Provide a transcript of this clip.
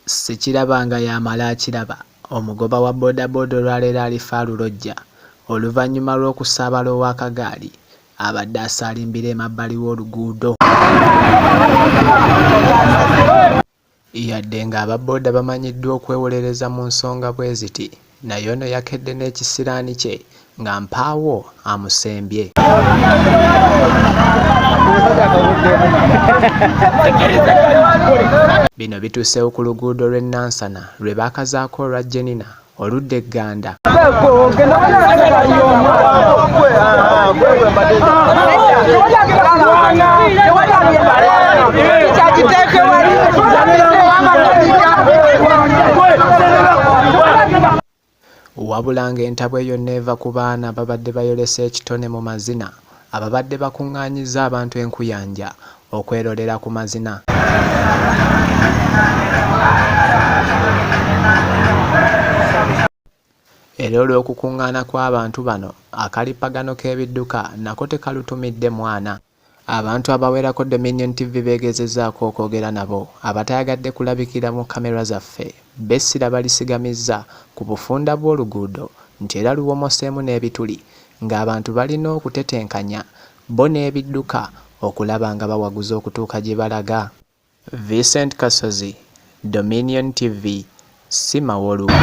Sikiraba nga y'amala akiraba, omugoba wa bodaboda olwaleero alifa alulojja oluvannyuma lw'okusaabala ow'akagaali abadde asaalimbira emabbali w'oluguudo. Yadde nga aba boda bamanyiddwa okwewolereza mu nsonga bweziti naye ono yakedde n'ekisiraani kye nga mpaawo amusembye. Bino bituuseewo ku luguudo lw'e Nansana lwe baakazaako olwa Jenina oludda e Gganda. Wabula ng'entabwe yonna eva ku baana ababadde bayolesa ekitone mu mazina. Ababadde bakungaanyizza abantu e Nkuyanja okwerolera ku mazina. Era olw'okukungaana kw'abantu bano, akalippagano k'ebidduka nako tekalutumidde mwana. Abantu abawerako Dominion TV beegezezaako okwogera nabo abatayagadde kulabikira mu kkamera zaffe b'essira balisigamizza ku bufunda bw'oluguudo nti era luwomoseemu n'ebituli ng'abantu balina okutetenkanya bbo n'ebidduka okulaba nga bawaguza okutuuka gye balaga. Vincent Kasozi, Dominion TV, Sima Wolumba.